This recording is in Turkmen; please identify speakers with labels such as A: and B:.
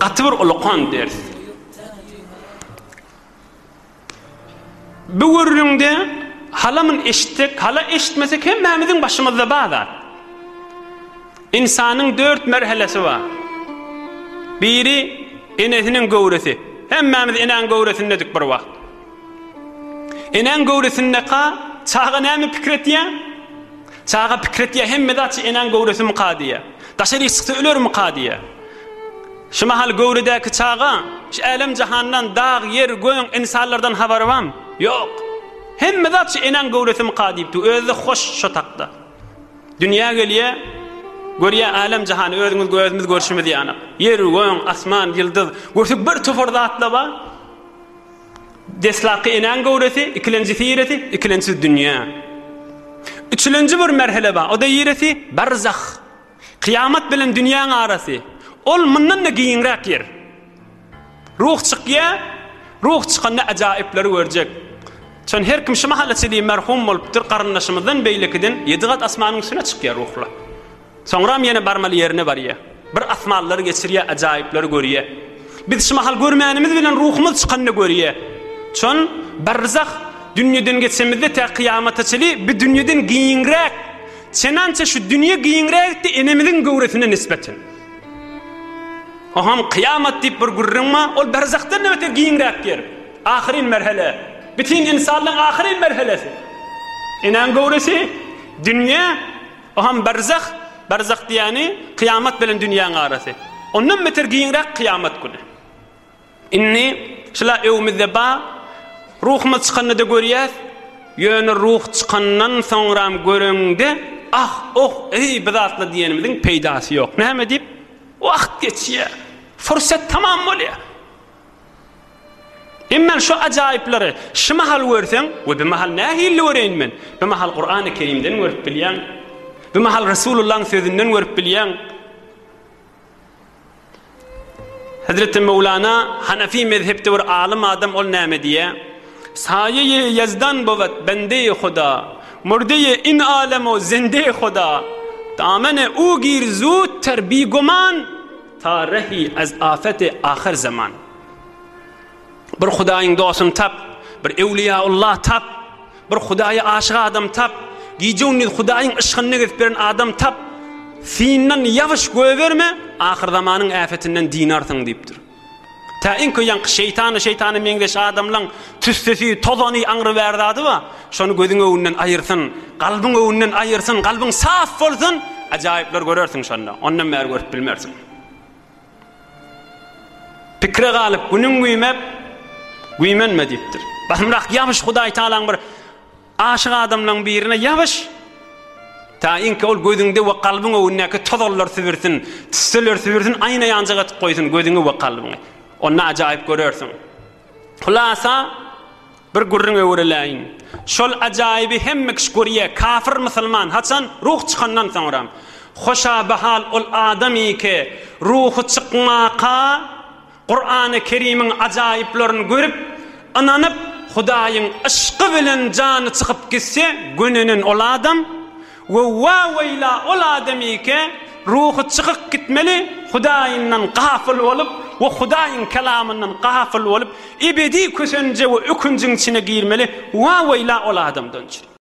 A: Gaty bir ulakan ders. Bu gürrüňde halamyn eşitdik, hala eşitmesek hemmämiziň başymyzda bar zat. İnsanyň dört merhelesi bar. Biri enesiniň göwresi. Hemmämiz eneň göwresindedik bir wagt. Enäň göwresindeka çaga näme pikir etýä? Çaga pikir etýä, hemme zat şu enäň göwresimika diýýä. Daşaryk çyksa ölermika diýýä. Şu mahal göwredäki çaga şu älem-jahandan, dag, ýer, göň, ynsanlardan habary barmy? Ýok. Hemme zat şu enäň göwresimika diýip dur. Özi-de hoş şo takda. Dünýä gelýä, görýä älem-jahany özüňiz gözümiz görşümiz ýanak. Ýer, göň, asman, ýyldyz, görsek bir topar zatla bar. Deslapky enäň göwresi, ikilenjisi ýeresi, ikilenjisi dünýä. Üçülenji bir merhele bar, o-da ýeresi, barzah. Kyýamat bilen dünýäň arasy. Ol mundan-da giňräk ýer. Ruh çykýar, ruh çykanda ajaýyplary görjek. Çün her kim şu mahala çenli merhum bolupdyr, garyndaşymyzdan beýlekiden ýedi gat asmanyň üstüne çykýar ruhlar. Soňram ýene barmaly ýerine barýa. Bir asmanlary geçirýä, ajaýyplary görýä. Biz şu mahal görmänimiz bilen ruhumyz çykanyny görýä. Çün, barzah dünýeden geçemizde tä kyýamata çenli bi dünýeden giňräk. Çenança şu dünýe giňräkdi enemiziň göwresine nisbeten. Oham kyýamat diýip bir gürrüň ma, ol barzahdan näbeter giňräk ýer. Ahyryn merhele. Bitin insanlyň ahyryn merhelesi. Enäň göwresi dünýe O ham barzah, barzah diýýäni kyýamat bilen dünýäň arasy. Ondan beter giňräk kyýamat güni. Indi şula öwmüzde bar, ruhumyz çykanda-da görýäs, ýöne ruh çykandan soňram göreňde, ah, oh, eý, bu zatlar diýenimiziň peýdasy ýok. Näme diýip? Wagt geçýär. Fursat tamam bolýar. Emma şu ajaýyplary şu mahal görseň, we bu mahal nähilli göreýin men? Bu mahal Kurany Kerimden görüp bilýäň. Bu mahal Resulullahyň sözünden görüp bilýäň. Hezreti Mevlana Hanafi mezhepde bir alym adam ol näme diýýä? Saýeýi ýezdan bowat bendeýi Huda, murdeýi in alem o zendeýi Huda. Damene u gir zut ter bigoman. Tarehi ez afeti ahyr zaman. Bir Hudaýyň dostuny tap, bir Ewliýaullah'y tap, bir Hudaýa aşyk adam tap, gije-gündiz Hudaýyň yşkyny gezip ýören adam tap, syndan ýabyş göýberme, ahyr zamanyň äfetinden dynarsyň diýipdir. Tä iň köýanky şeýtana şeýtana meňzeş adamlaň tüssesi, tozany, aňry bär zady ba, şony gözüň öwünden aýyrsyn, galbyň öwünden aýyrsyn, galbyň saf bolsun, ajaýyplar görersiň şonda, ondan bäri görüp bilmersiň. Pikre galyp, günüň güýmep, güýmenme diýipdir. Basymrak ýabyş Hudaýtagalaň bir Aşyk adamlaň birine ýabyş! Taýynki ol gözüňde we kalbyň öwündäki tozallar sübürsin, tüsseler sübürsin, aýna ýanjak atyp goýsun gözüňi we kalbyňy. Onda ajaýyp görersiň. Hulasa, bir gürrüň öwrüläýin. Şol ajaýyby hemme kişi görýä, kafyr musulman, haçan? Ruh çykandan soňra. Hoşabahal ol adamyke, ruhy çykmaka Kurany Kerimiň ajaýyplaryny görüp, ynanyp, Hudaýyň yşky bilen jany çykyp gitse, gönenen ol adam, we wa-weýla ol adamyke, ruhy çykyk gitmeli, Hudaýyndan gafyl bolup we Hudaýyň Kelamyndan gafyl bolup, ebedi kösenje we ökünjiň içine girmeli, wa-weýla ol adamdan!